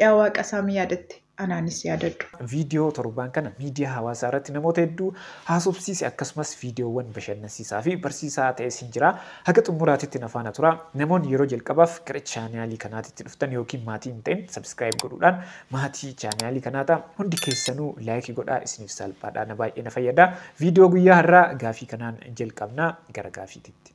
Yaa waaqa saami yaadatte anaanis yaadadhu. Viidiyoo torbaan kana miidiyaa hawaasaa irratti namoota hedduu haasofsiise akkasumas viidiyoowwan bashannansiisaa fi barsiisaa ta'e siin jira. Haga xumuraatitti na faana turaa. Namoonni yeroo jalqabaaf gara chaanaalii kanaatitti dhuftan yookiin maatii hin ta'in subscribe godhuudhaan maatii chaanaalii kanaa ta'a. Hundi keessanuu like godhaa isiniif saalphaadha na baay'ee na fayyada. Viidiyoo guyyaa har'aa gaafii kanaan jalqabna gara gaafiititti.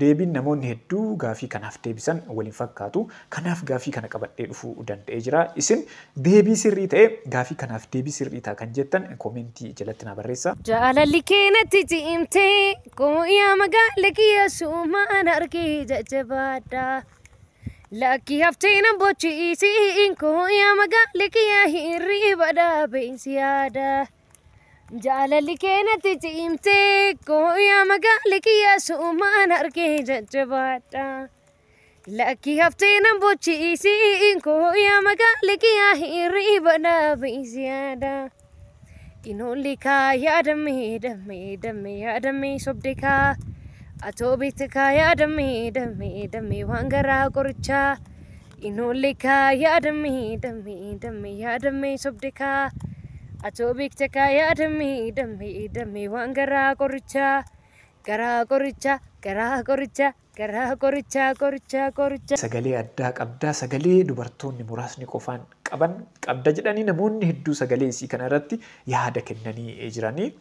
Deebiin namoonni hedduu gaaffii kanaaf deebisan wal hin fakkaatu. Kanaaf gaaffii kana qabadhee dhufuu danda'ee jira. Isin deebii sirrii ta'e gaaffii kanaaf deebii sirrii ta'a kan jettan koomentii jalatti naa barreessa. Jaalalli kee natti ciimte Kooyaa magaala kiyya suumaan argee jajjabaadha Lakki haftee nan bochiisiin Kooyaa magaala kiyya hirriba dhaabeen si yaada Jaalalli kee natti cimtee koo yaa magaala kiyyaa suumaan argee jajjabaadha. Lakkii haftee nan bochiisii koo yaa magaala kiyyaa hirriba dhaabiis yaada. Qinoolli kaa yaadammee dammee dammee yaadammee sobde kaa. Atoo beekte kaa yaadammee dammee dammee waan garaa qorichaa. Inoollee kaa yaadamme damme damme yaadamme sobde kaa atoo beekta kaa yaadamme damme damme waan garaa qorichaa garaa qorichaa garaa qorichaa garaa qorichaa qorichaa qorichaa. Sagalee addaa qabda sagalee dubartoonni muraasni qofaan qaban qabda jedhanii namoonni hedduu sagalee isii kana irratti yaada kennanii jiranii.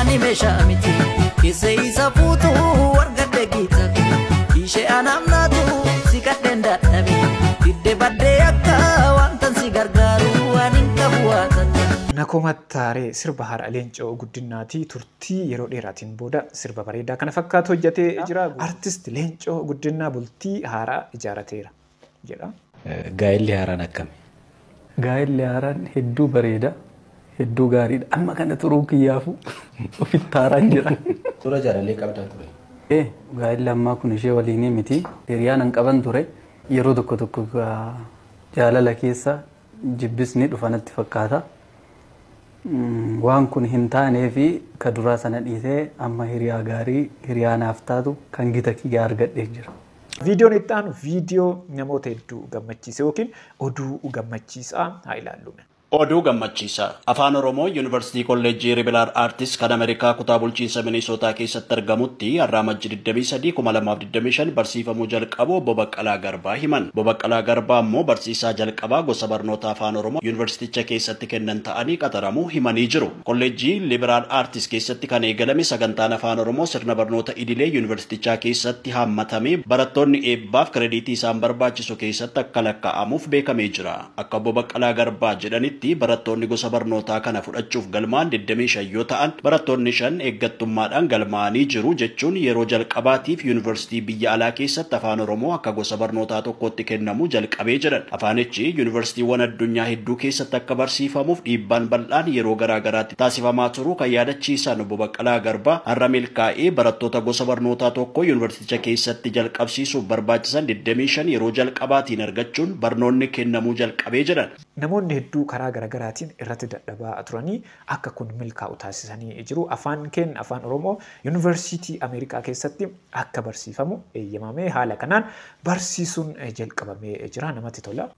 Ani meeshaa miti keessa isa fuutu argadhe giitafi ishee anaamnaatu si kadheen dadhabe didde baddee akka wantan si gargaaru waan hin qabu waatata. Nakomattaaree sirba haadha Leencoo Guddinaatii turtii yeroo dheeraatiin booda sirba bareedaa kana fakkaatu hojjatee jira. Artist Leencoo Guddinnaa bultii haaraa ijaarateera. jedha. Gaa'elli haaraan akkami? Gaa'elli haaraan hedduu bareeda, hedduu gaariidha. Amma kana turuun kiyyaafuu ofitti haaraan jira. Dura jaalalee qabdaa ture? Ee, gaa'elli ammaa kun ishee waliinii miti. Hiriyaan an qaban ture. Yeroo tokko tokko jaalala keessa jibbis ni dhufa natti fakkaata. Waan kun hin taaneefi ka duraa sana dhiisee amma hiriyaa gaarii hiriyaa naaf taatu kan gita kiyyaa argadhee jira. Viidiyoon itti aanu viidiyoo namoota hedduu gammachiise yookiin oduu gammachiisaa haa ilaallu. Oduu gammachiisaa! Afaan Oromoo Yuunivarsiitii Kolleejjii Ribilaar Aartis kan Amerikaa kutaa bulchiinsa Minisootaa keessatti argamutti har'a Amajji 23, 2025 25 barsiifamuu jalqabuu Obbo Baqqalaa Garbaa himan. Obbo Baqqalaa Garbaa ammoo barsiisaa jalqabaa gosa barnoota Afaan Oromoo Yuunivarsiiticha keessatti kennan ta'anii qaxaramuu himanii jiru. Kolleejjii Liberaal Aartis keessatti kan eegalame sagantaan Afaan Oromoo sirna barnoota idilee Yuunivarsiitichaa keessatti haammatamee barattoonni eebbaaf kirediitii isaan barbaachisu keessatti akka lakkaa'amuuf beekamee jira. Akka Obbo Baqqalaa Garbaa jedhanitti, barattoonni gosa barnootaa kana fudhachuuf galmaa'an digdamii shan yoo ta'an, barattoonni shan eeggattummaadhaan galmaa'anii jiru, jechuun yeroo jalqabaatiif Yuunivarsiitii biyya alaa keessatti Afaan Oromoo akka gosa barnootaa tokkootti kennamuu jalqabee jedhan. Afaanichi Yuunivarsiitiiwwan addunyaa hedduu keessatti akka barsiifamuuf dhiibbaan bal'aan yeroo garaa garaatti taasifamaa turuu kan yaadachiisan Obbo Baqqalaa Garbaa, har'a milkaa'ee barattoota gosa barnootaa tokkoo ticha keessatti jalqabsiisuuf barbaachisan 25 yeroo jalqabaatiin argachuun barnoonni kennamuu jalqabee jedhan. Namoonni hedduu karaa garagaraatiin irratti dadhabaa turanii akka kun milkaa'u taasisanii jiru. Afaan keen, Afaan Oromoo, Yuunivarsiitii Ameerikaa keessatti akka barsiifamu eeyyamamee haala kanaan barsiisuun jalqabamee jira. Namatti tola.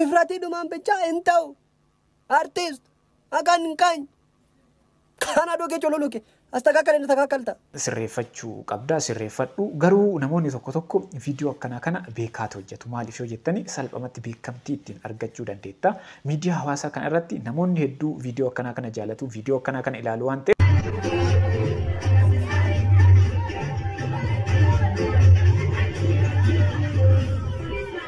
Ifratii dhumaan bichaa hin ta'u. Artist akan kany. Kana dhugi cululuki. Astakakal hin takakalta. sirreeffachuu qabda sirreeffadhu garuu namoonni tokko tokko viidiyoo akkanaa kana beekaatu hojjetu maaliif yoo jettani salphamatti beekamtii ittiin argachuu dandeetta miidiyaa hawaasaa kana irratti namoonni hedduu viidiyoo akkanaa kana jaalatu viidiyoo akkanaa kana ilaalu waan ta'eef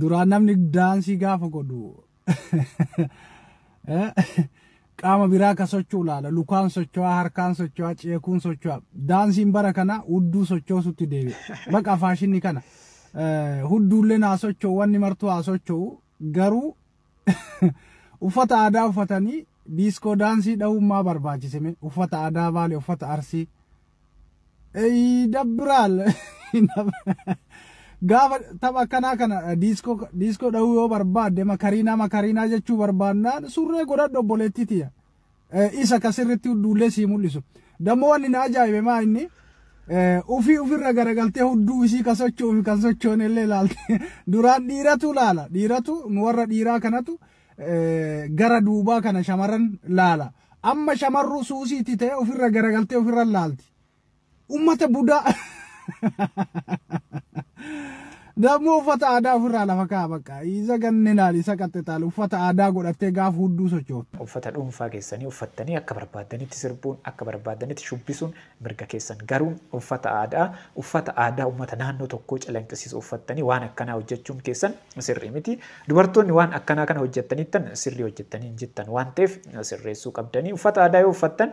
Duraan namni daansii gaafa godhu qaama biraa akka socho'u ilaala. Lukaan socho'aa, harkaan socho'aa, ceekuun socho'aa. Daansiin bara kana hudduu sochoosutti deebi'e. Baqa faashinni kana. Hudduulleen haa socho'u, wanni martuu haa socho'u. Garuu Uffata aadaa uffatanii diiskoo daansii dhahuun maa barbaachise mee? Uffata aadaa Baalee, uffata Arsii. Eeyi dabbiraal. Gaafa tapha akkanaa kana diiskoo diiskoo dhahuu yoo barbaadde makariinaa makariinaa jechuu barbaannaan surree godhadhu obboleettii tiyya. isa ka sirritti hudduullee sii mul'isu. Dammoo wanni na ajaa'ibe maa inni ufii ufirra garagaltee hudduu isii ka socho'u fi kan sochoone illee ilaalte. Duraan dhiiratu laala. Dhiiratu nu warra dhiiraa kanatu gara duubaa kana shamarran laala. Amma shamarruu suusiitti ta'e ufirra garagaltee ufirra laalti. ummata budaa Dammoo uffata aadaa ofirraa lafa kaa'a bakka. Isa ganninaan isa qaxxixaal uffata aadaa godhattee gaafa hudduu sochoota. Uffata dhuunfaa keessanii uffattanii akka barbaaddanitti sirbuun, akka barbaaddanitti shubbisuun mirga keessan. Garuu uffata aadaa, uffata aadaa uummata naannoo tokkoo calanqisiisu uffattanii waan akkanaa hojjechuun keessan sirrii miti. Dubartoonni waan akkanaa kana hojjettaniittan sirrii hojjettanii hin jirtan waan ta'eef sirreessuu qabdanii. Uffata aadaa yoo uffattan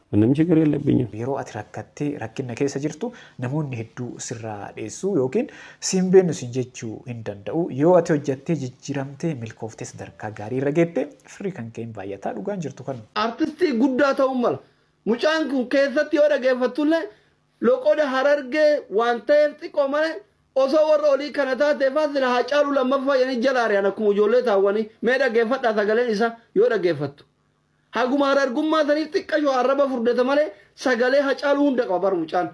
Namicha garee Allabbeenyaa. Yeroo ati rakkattee rakkinna keessa jirtu namoonni hedduu sirraa dheessuu ykn si hin beennu siin jechuu hin danda'u. Yoo ati hojjattee jijjiramtee milkoofte sadarkaa gaarii irra geette firri kan kee hin baay'ata. Dhugaan jirtu kanuma. Artistii guddaa ta'uun mala. Mucaan kun keessatti yoo dhageeffattullee loqoda harargee waan ta'eef xiqqoo malee osoo warra olii kana taateefaa sila haacaaluu lammaffaa jedhanii jala ari'an akkuma ijoollee taawwanii mee dhageeffadhaa sagaleen isaa yoo dhageeffattu Haguma harargummaa saniif xiqqasho arraba furdata malee sagalee Hacaaluu hunda qaba bar mucaan.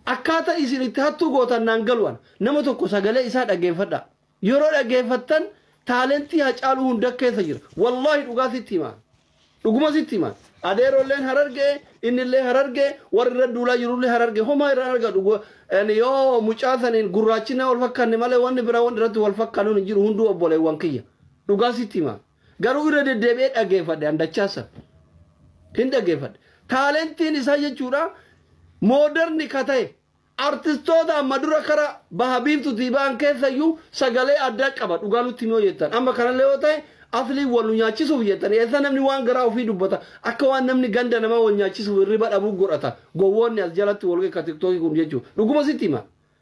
Akkaata isin itti hattuu gootan naan galu ana. Nama tokko sagalee isaa dhaggeeffadhaa. Yeroo dhaggeeffattan taalentii Hacaaluu hunda keessa jira. Wallaahi dhugaa sitti hima. Dhuguma sitti hima. Adeerolleen harargee, innillee harargee, warri irra duulaa jirullee harargee. Homaa irra argadhu. Go- ani Yoo mucaa saniin gurraachinaa wal fakkanne malee wanni biraa wanni irratti wal fakkannuun hin jiru hunduu obboleewwan kiyya. Dhugaa sitti hima. Garuu irra deddeebi'ee dhageeffadhe an dachaa san. Hin dhageeffadhe. Taalentiin isaa jechuudha mooderni ka ta'e artistoota amma dura kara baha biiftutii ba'an keessayyuu sagalee addaa qaba dhugaa nutti himee jettan. Amma kanallee yoo ta'e aslii wal nu nyaachisuuf jettan eessa namni waan garaa ofii dubbata akka waan namni ganda namaa wal nyaachisuuf hirriba dhabuu godhata gowwoonni as jalatti wal ga'e ka tiktookii kun jechuudha. Dhuguma sitti hima.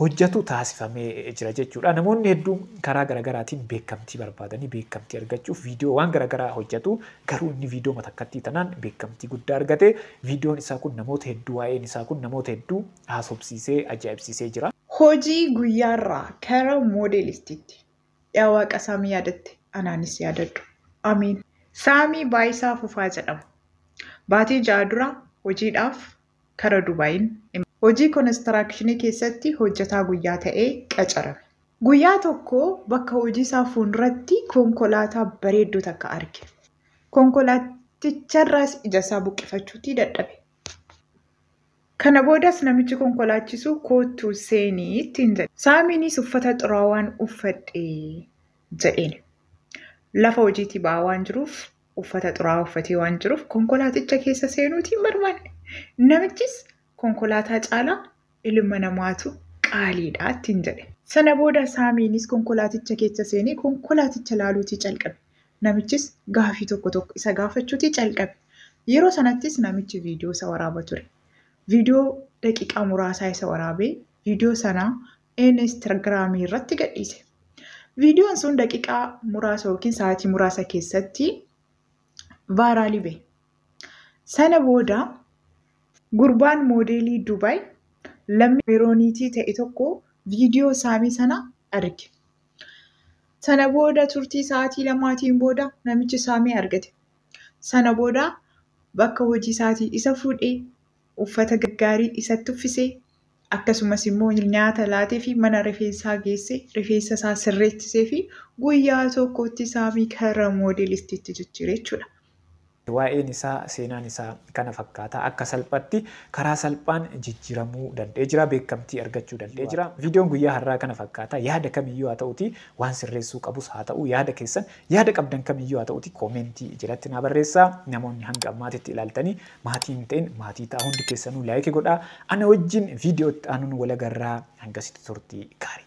hojjatu taasifamee jira jechuudha. Namoonni hedduun karaa garagaraatiin beekamtii barbaadanii beekamtii argachuuf viidiyoo waan garagaraa hojjatu. Garuu inni viidiyoo matakkattii tanaan beekamtii guddaa argate. Viidiyoon isaa kun namoota hedduu waa'een isaa kun namoota hedduu haasofsiisee ajaa'ibsiisee jira. Hojii guyyaarraa kara moodelistitti. Yaa Waaqa Saamii yaadatte anaanis yaadadhu. Ameen. Saamii Baayisaa Fufaa jedhama. Baatii ja'a dura hojiidhaaf kara Dubaayiin imale. Hojii konistiraakshinii keessatti hojjetaa guyyaa ta'ee qacarame. Guyyaa tokko bakka hojii isaa fuunduratti konkolaataa bareedduu takka arge. Konkolaatticharraas ija isaa buqqifachuutii dadhabe. Kana boodas namichi konkolaachisu koottu seeni ittiin jedhe. Saamiinis uffata xuraawaan uffadhe jedheen. Lafa hojiitii ba'aa waan jiruuf Uffata xuraa'aa uffatee waan jiruuf konkolaaticha keessa seenuutii hin barbaanne. Namichis konkolaataa caalaa ilma namaatu qaaliidha ittiin jedhe. Sana booda Saamiinis konkolaaticha keessa seenee konkolaaticha laaluutii calqabe. Namichis gaafii tokko tokko isa gaafachuutii calqabe. Yeroo sanattis namichi viidiyoo isa waraaba ture. Viidiyoo daqiiqaa muraasaa isa waraabee viidiyoo sana Instagram irratti gadhiise. Viidiyoon sun daqiiqaa muraasa yookiin sa'aatii muraasa keessatti vaayiraalii bahe. Sana booda gurbaan moodeelii Dubaay lammii Meerooniitii ta'e tokko viidiyoo saamii sana arge. Sana booda turtii sa'aatii lamaatiin booda namichi saamee argate. Sana booda bakka hojii isaatii isa fuudhee uffata gaggaarii isatti uffisee, akkasumas immoo nyaata laateefii mana rifeensaa geessee rifeensa isaa sirreechiseefii guyyaa tokkotti Saamii karra moodelistiitti jijjiire jechuudha. Waa'een isaa, seenaan isaa kana fakkaata. Akka salphatti, karaa salphaan jijjiramuu dand'ee jira. Beekkamtii argachuu dand'ee jira. Viidiyoon guyyaa har'aa kana fakkaata. Yaada kamiyyuu haa ta'uutii, waan sirreessuu qabus haa ta'uu yaada keessan, yaada qabdan kamiyyuu haa ta'uutii koomeentii jalatti naa barreessaa. Namoonni hanga ammaatitti ilaaltanii Maatii hin ta'in maatii ta'a hundi keessanuu like godhaa. Ana wajjin viidiyoo itti aanuun wal agarraa hangasitti turtii gaarii.